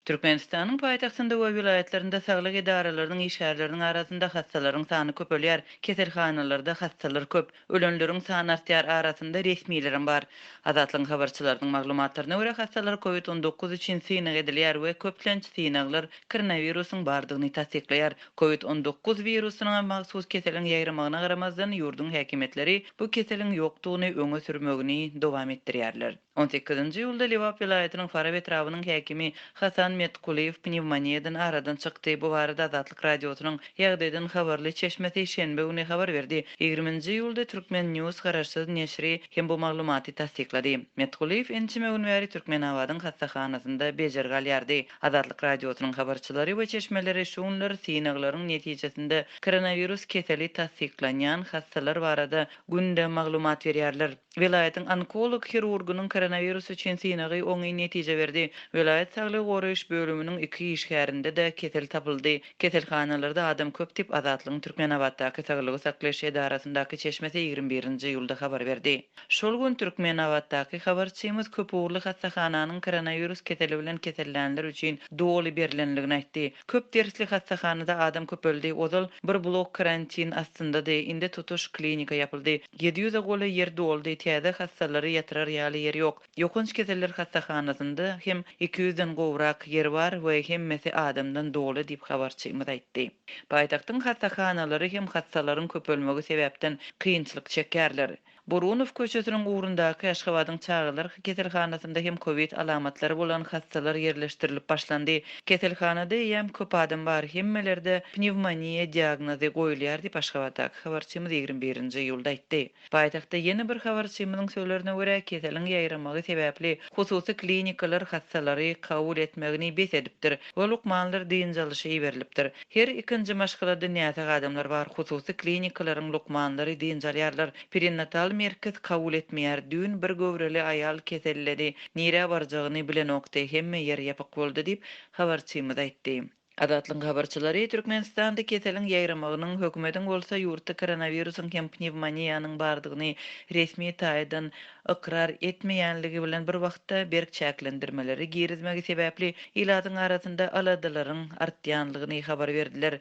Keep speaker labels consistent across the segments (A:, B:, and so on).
A: Türkmenistanyň paýtagtynda we welaýatlarynda saglyk edaralarynyň işgärleriniň arasynda hassalaryň sany köpelýär, keselhanalarda hassalar köp, ölenleriň sany artýar, arasynda resmilerem bar. Azatlygyň habarçylarynyň maglumatlaryna görä, hassalar kowid on dokuz üçin synag edilýär we köplenç synaglar koronawirusyň bardygyny tassyklaýar. Kowid on dokuz wirusyna mahsus keseliň ýaýramagyna garamazdan, ýurduň häkimiýetleri bu keseliň ýokdugyny öňe sürmegini dowam etdirýärler. On sekizinji iýulda Lebap welaýatynyň Farap etrabynyň häkimi Hasan Metkulyýew pnewmoniýadan aradan çykdy. Bu barada Azatlyk Radiosynyň ýagdaýdan habarly çeşmesi şenbe güni habar berdi. Ýigriminji iýulda Turkmen. News garaşsyz neşiri hem bu maglumaty tassyklady. Metkulyýew ençeme gün bäri Türkmenabadyň hassahanasynda bejergi alýardy. Azatlyk Radiosynyň habarçylary we çeşmeleri şu günler synaglaryň netijesinde koronawirus keseli tassyklanýan hassalar barada günde maglumat berýärler. Welaýatyň onkolog hirurgynyň koronawirus üçin synagy oňyn netije berdi. Welaýat saglygy goraýyş bölüminiň iki işgärinde-de kesel tapyldy. Keselhanalarda adam köp diýip, Azatlygyň Türkmenabatdaky saglygy saklaýyş edarasyndaky çeşmesi ýigrimi birinji iýulda habar berdi. Şol gün Türkmenabatdaky habarçymyz köp ugurly hassahananyň koronawirus keseli bilen kesellänler üçin doly berlenligini aýtdy. Köp dersli hassahanada adam köpeldi. Ozal bir blok karantin astyndady, indi tutuş klinika ýapyldy. Ýedi ýüze golaý ýer doldy, täze hassalary ýatyrar ýaly ýer ýok. Ýokanç keseller hassahanasynda hem iki ýüzden gowrak ýer bar we hemmesi adamdan doly diýip, habarçymyz aýtdy. Paýtagtyň hassahanalary hem hassalaryň köpelmegi sebäpden kynçylyk çekýärler. Burunow köçesiniň ugrundaky Aşgabadyň çagalar keselhanasynda hem kowid alamatlary bolan hassalar ýerleşdirilip başlandy. Keselhanada eýýäm köp adam bar, hemmelerde pnewmoniýa diagnozy goýulýar diýip, Aşgabatdaky habarçymyz ýigrimi birinji iýulda aýtdy. Paýtagtda ýene bir habarçymyzyň sözlerine görä, keseliň ýaýramagy sebäpli hususy klinikalar hassalary kabul etmegini bes edipdir we lukmanlar dynç alyşa iberilipdir. Her ikinji maşgalada näsag adamlar bar, hususy klinikalaryň lukmanlary dynç alýarlar. Perinatal merkez kabul etmeýär. Düýn bir göwreli aýal keselledi. Nirä barjagyny bilenokdy, hemme ýer ýapyk boldy diýip, habarçymyz aýtdy. Azatlygyň habarçylary Türkmenistanda keseliň ýaýramagynyň, hökümetiň bolsa ýurtda koronawirusyň hem pnewmoniýanyň bardygyny resmi taýdan ykrar etmeýänligi bilen bir wagtda berk çäklendirmeleri girizmegi sebäpli ilatyň arasynda aladalaryň artýanlygyny habar berdiler.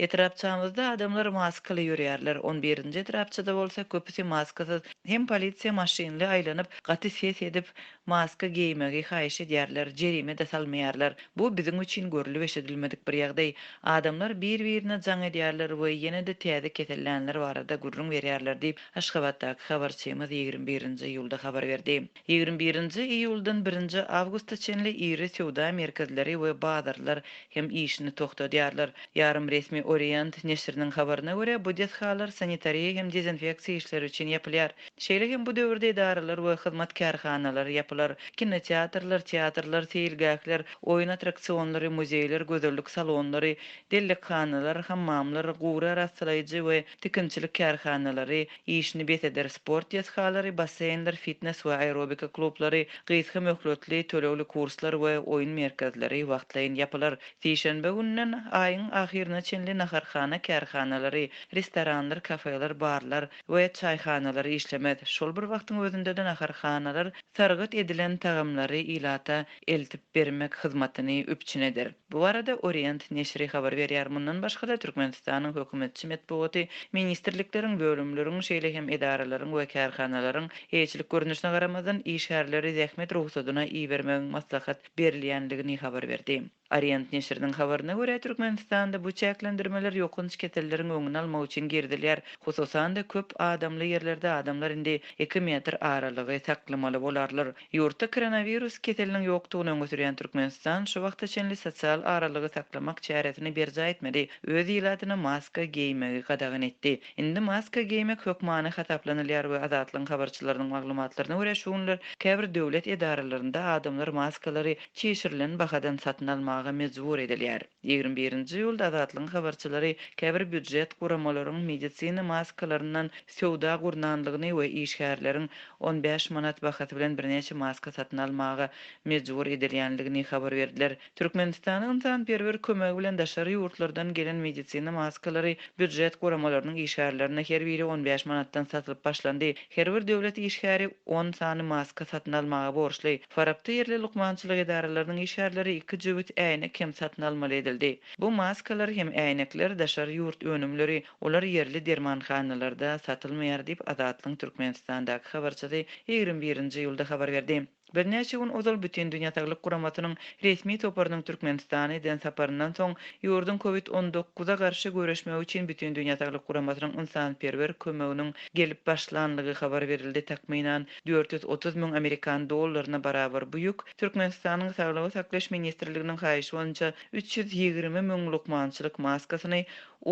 A: Etrapçamyzda adamlar maskaly ýörýärler, on birinji etrapçada bolsa köpüsi maskasyz, hem polisiýa maşynly aýlanyp, gaty ses edip, maska geýmegi haýyş edýärler, jerime-de salmaýarlar. Bu biziň üçin görlüp-eşidilmedik bir ýagdaý. Adamlar bir-birine jaň edýärler we ýene-de täze kesellänler barada gürrüň berýärler diýip, Aşgabatdaky habarçymyz ýigrimi birinji iýulda habar berdi. Ýigrimi birinji iýuldan birinji awgusta çenli iri söwda merkezleri we bazarlar hem işini togtadýarlar. Ýarym resmi Orient neşiriniň habaryna görä, bu desgalar sanitariýa hem dezinfeksiýa işleri üçin ýapylýar. Şeýle hem bu döwürde edaralar we hyzmat kärhanalary ýapylar. Kinoteatrlar, teatrlar, seýilgähler, oýun attraksionlary, muzeýler, gözellik salonlary, dellekhanalar, hammamlar, gury arassalaýjy we tikinçilik kärhanalary, Işini bes eder sport desgalary, basseýnler, fitnes we aerobika klublary, gysga möhletli tölegli kurslar we oýun merkezleri wagtlaýyn ýapylar. Sişenbe gününden aýyň ahyryna çenli naharhana kärhanalary, restoranlar, kafeler, barlar we çaýhanalar işlemez. Şol bir wagtyň özünde-de naharhanalar sargyt edilen tagamlary ilata eltip bermek hyzmatyny üpjün eder. Bu barada Orient neşiri habar berýär. Mundan başga-da, Türkmenistanyň hökümetçi metbugaty ministrlikleriň, bölümleriň, şeýle hem edaralaryň we kärhanalaryň, eýeçilik görnüşine garamazdan, işgärleri zähmet rugsadyna ibermegiň maslahat berilýändigini habar berdi. Orient neşiriniň habaryna görä, Türkmenistanda bu çäklendirmeler ýokanç keselleriň öňüni almak üçin girizilýär. Hususan-da, köp adamly ýerlerde adamlar indi iki metr aralygy saklamaly bolarlar. Ýurtda koronawirus keseliniň ýokdugyny öňe sürýän Türkmenistan şu wagta çenli sosial aralygy saklamak çäresini berjaý etmedi, öz ilatyna maska geýmegi gadagan etdi. Indi maska geýmek hökmany hasaplanylýar we Azatlygyň habarçylarynyň maglumatlaryna görä şu günler käbir döwlet edaralarynda adamlar maskalary çişirilen bahadan satyn almaga mejbur edilýär. Ýigrimi birinji iýulda Azatlygyň habarçylary käbir býujet guramalaryň medisina maskalaryndan söwda gurnanlygyny we işgärleriň on bäş manat bahasy bilen birnäçe maska satyn almaga mejbur edilýänligini habar berdiler. Türkmenistana ynsanperwer kömegi bilen daşary ýurtlardan gelen medisina maskalary býujet guramalarynyň işgärlerine her biri on bäş manatdan satylyp başlandy. Her bir döwlet işgäri on sany maska satyn almaga borçly. Farapda ýerli lukmançylyk edaralarynyň işgärleri iki jübüt äýnek hem satyn almaly edildi. Bu maskalar hem äýnekler daşary ýurt önümleri, olar ýerli dermanhanalarda satylmaýar diýip, Azatlygyň Türkmenistandaky habarçysy ýigrimi birinji iýulda habar berdi. Birnäçe gün ozal Bütindünýä saglyk guramasynyň resmi toparynyň Türkmenistana eden saparyndan soň, ýurduň Kowid on dokuz a garşy göreşmegi üçin Bütindünýä saglyk guramasynyň ynsanperwer kömeginiň gelip başlanlygy habar berildi, takmynan, Dört ýüz otuz müň amerikan dollaryna barabar bu ýük Türkmenistanyň Saglygy saklaýyş ministrliginiň haýyşy boýunça üç ýüz ýigrimi müň lukmançylyk maskasyny,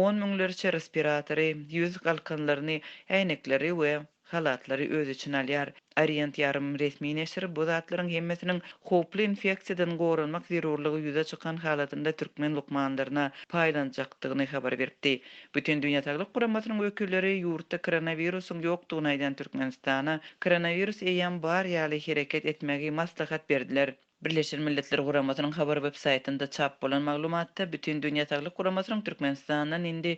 A: on müňlerçe respiratory, ýüz galkanlaryny, äýnekleri we halatlary öz içine alýar. Orient ýarym resmi neşir bu zatlaryň hemmesiniň howply infeksiýadan goranmak zerurlygy ýüze çykan halatynda türkmen lukmanlaryna paýlanjakdygyny habar beripdi. Bütindünýä saglyk guramasynyň wekilleri ýurtda koronawirusyň ýokdugyny aýdan Türkmenistana koronawirus eýýäm bar ýaly hereket etmegi maslahat berdiler. Birleşen Milletler Guramasynyň habar websaýtynda çap bolan maglumatda Bütindünýä saglyk guramasynyň Türkmenistandan indi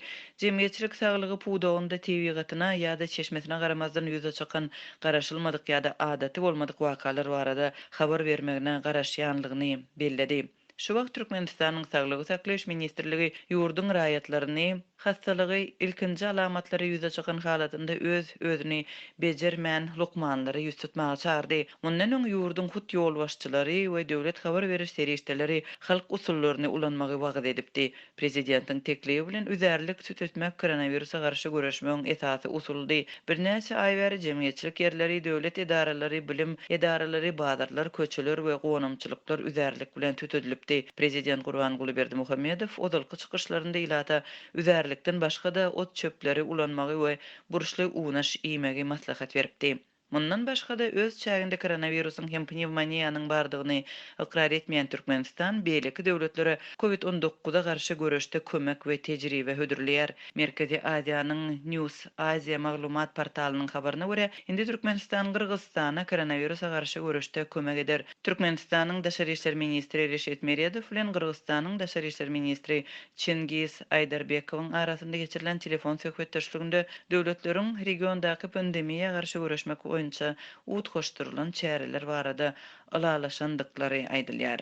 A: jemgyýetçilik saglygy pudagynda tebigatyna ýa-da çeşmesine garamazdan ýüze çykan garaşylmadyk ýa-da adaty bolmadyk wakalar barada habar bermegine garaşýanlygyny belledi. Şu wagt Türkmenistanyň Saglygy saklaýyş ministrligi ýurduň raýatlaryny hassalygy ilkinji alamatlary ýüze çykan halatynda öz özüni bejermän lukmanlara ýüz tutmaga çagyrdy. Mundan öň ýurduň hut ýolbaşçylary we döwlet habar beriş serişdeleri halk usullaryny ulanmagy wagyz edipdi. Prezidentiň teklibi bilen üzärlik süt etmek koronawirusa garşy göreşmegiň esasy usulydy. Birnäçe aý bäri jemgyýetçilik ýerleri, döwlet edaralary, bilim edaralary, bazarlar, köçeler we gonamçylyklar üzärlik bilen süt edilipdi. Prezident Gurbanguly Berdimuhamedow ozalky çykyşlarynda ilata üzärlikden başga-da ot-çöpleri ulanmagy we burçly unaş iýmegi maslahat beripdi. Mundan başga-da, öz çäginde koronawirusyň hem pnewmoniýanyň bardygyny ykrar etmeýän Türkmenistan beýleki döwletlere Covid on dokuza garşy göreşde kömek we tejribe hödürleýär. Merkezi Aziýanyň News Asia maglumat portalynyň habaryna görä, indi Türkmenistan Gyrgyzystana koronawirusa garşy göreşde kömek eder. Türkmenistanyň Daşary işler ministri Reşit Meredow bilen Gyrgyzystanyň Daşary işler ministri Çingiz Aýdarbekowyň arasynda geçirilen telefon söhbetdeşliginde döwletleriň regiondaky pandemiýa garşy göreşmek boýunça utgaşdyrylan çäreler barada ylalaşandyklary aýdylýar.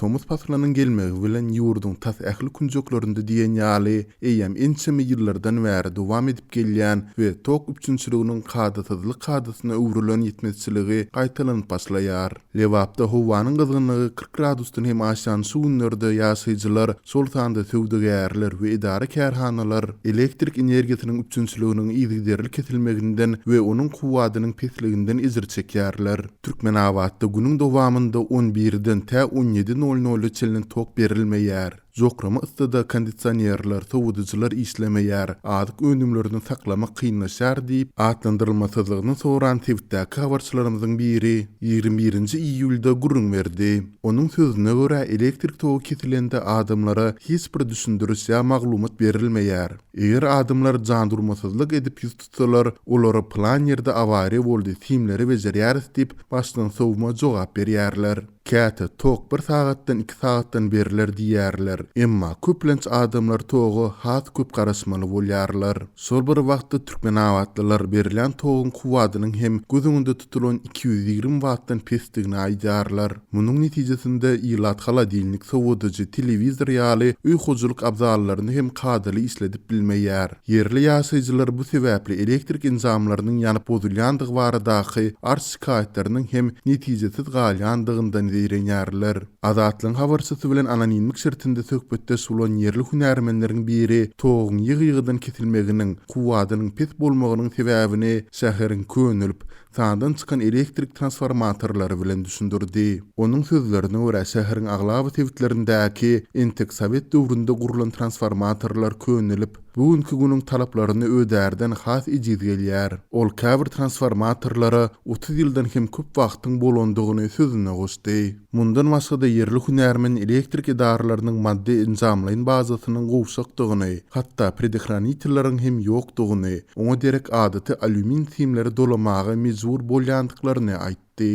B: Tomus paslynyň gelmegi bilen ýurduň tas ähli künjeklerinde diýen ýaly eýýäm ençeme ýyllardan bäri dowam edip gelýän we tok üpjünçiliginiň kadasyzlyk kadasyna öwrülen ýetmezçiligi gaýtalanyp başlaýar. Lebapda howanyň gyzgynlygy kyrk gradusdan hem aşan şu günlerde ýaşaýjylar, şol sanda söwdagärler we edara-kärhanalar elektrik energiýasynyň üpjünçiliginiň yzygiderli kesilmeginden we onuň kuwwadynyň pesliginden ejir çekýärler. Türkmenabatda günüň dowamynda on birden tä on ýedi nol-nola çenli tok berilmeýär. Jokrama yssyda kondisionerler, sowadyjylar işlemeýär, azyk önümlerini saklamak kynlaşýar diýip, atlandyrylmasyzlygyny soran sebitdäki habarçylarymyzyň biri ýigrimi birinji iýulda gürrüň berdi. Onuň sözüne görä, elektrik togy kesilende adamlara hiç bir düşündiriş ýa maglumat berilmeýär. Eger adamlar jandurmasyzlyk edip ýüz tutsalar, olara plan ýerde awariýa boldy, simleri bejerýäris diýip, başdan sowma jogap berýärler. Käte tok bir sagatdan iki sagatdan beriler diýýärler. Emma köplenç adamlar toga has köp garaşmaly bolýarlar. Şol bir wagtda türkmenabatlylar berilýän toguň kuwwadynyň hem göz öňünde tutulan iki ýüz ýigrimi wattdan pesdigini aýdýarlar. Munuň netijesinde ilat holodilnik, sowadyjy, telewizor ýaly öý hojalyk abzallaryny hem kadaly işledip bilmeýär. Ýerli ýaşaýjylar bu sebäpli elektrik enjamlarynyň ýanyp bozulýandygy baradaky arz-şikaýatlarynyň hem netijesiz galýandygyndan zeýrenýärler. Azatlygyň habarçysy bilen anonimlik şertinde söhbetdeş bolan ýerli hünärmenleriň biri toguň ýygy-ýygydan kesilmeginiň, kuwwadynyň pes bolmagynyň sebäbini şäheriň könelip, Sandan çykan elektrik transformatorlary bilen düşündirdi. Onuň sözlerine görä, şäheriň aglaba sebitlerindäki entek sowet döwründe gurlan transformatorlar könelip, bu günki günüň talaplaryny ödärden has ejiz gelýär. Ol käbir transformatorlara otuz ýyldan hem köp wagtyň bolandygyny sözüne goşdy. Mundan başga-da ýerli hünärmen elektrik edaralarynyň maddy-enjamlaýyn bazasynyň gowşakdygyny, hatda predehranitleriň hem ýokdugyny, Oňa derek adaty alýumin simleri dolamaga mejbur bolýandyklaryny aýtdy.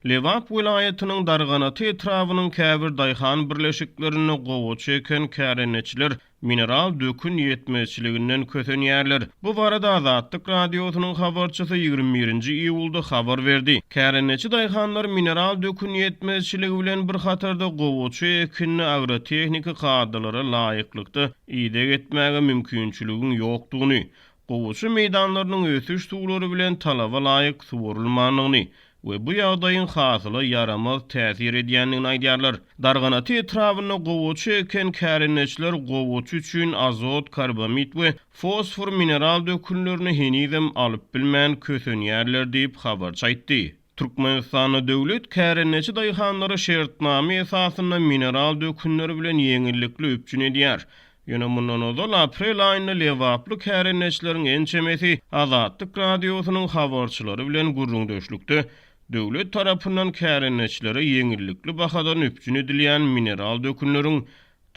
C: Lebap welaýatynyň Darganat etrabynyň käbir daýhan birleşiklerinde gowaça eken kärendeçiler mineral dökün ýetmezçiliginden kösenýärler. Bu barada Azatlyk Radiosynyň habarçysy ýigrimi birinji iýulda habar berdi. Kärendeçi daýhanlar mineral dökün ýetmezçiligi bilen bir hatarda gowaça ekinini agrotehniki kadalara laýyklykda ideg etmäge mümkinçiligiň ýokdugyny, gowaça meýdanlarynyň ösüş suwlary bilen talaba laýyk suwarylmandygyny, we bu ýagdaýyň hasyla ýaramaz täsir edýändigini aýdýarlar. Darganaty etrabynda gowaça eken kärendeçiler gowaça üçin azot karbamid we fosfor mineral dökünlerini henizem alyp bilmän kösenýärler diýip, habarçy aýtdy. Türkmenistanda döwlet kärendeçi daýhanlary şertnama esasynda mineral dökünler bilen ýeňillikli üpjün edýär. Ýöne mundan ozal aprel aýynda lebaply kärendeçileriň ençemesi Azatlyk Radiosynyň habarçylary bilen gürrüňdeşlikde döwlet tarapyndan kärendeçilere ýeňillikli bahadan üpjün edilýän mineral dökünleriň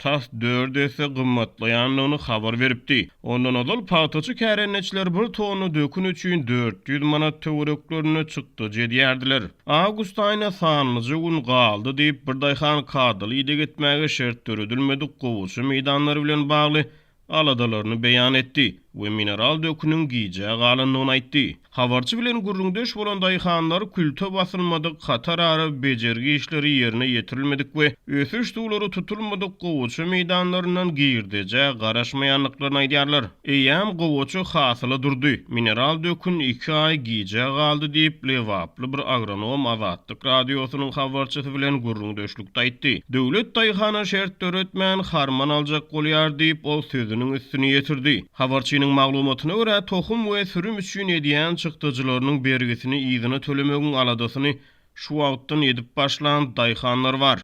C: tas dört esse gymmatlaýandygyny habar beripdi. Ondan ozal pagtaçy kärendeçiler bir tonna dökün üçin dört ýüz manat töwereklerinde çykdajy edýärdiler. Awgust aýyna sanlyja gün galdy diýip, bir daýhan kadaly ideg etmäge şert döredilmedik gowaça meýdanlary bilen bagly aladalaryny beýan etdi we mineral döküniň gijä galandygyny aýtdy. Habarçy bilen gürrüňdeş bolan daýhanlar külte basylmadyk, hatarara bejergi işleri ýerine ýetirilmedik we ösüş suwlary tutulmadyk gowaça meýdanlaryndan girdejä garaşmaýandyklaryny aýdýarlar. Eýýäm gowaça hasyla durdy. Mineral dökün iki aý gijä galdy diýip, lebaply bir agronom Azatlyk Radiosynyň habarçysy bilen gürrüňdeşlikde aýtdy. Döwlet daýhana şert döretmän, harman aljak bolýar diýip, ol sözüniň üstüni ýetirdi. Habarçynyň maglumatyna görä, tohum we sürüm üçin edýän çykdajylarynyň bergisini yzyna tölemegiň aladasyny şu wagtdan edip başlan daýhanlar bar.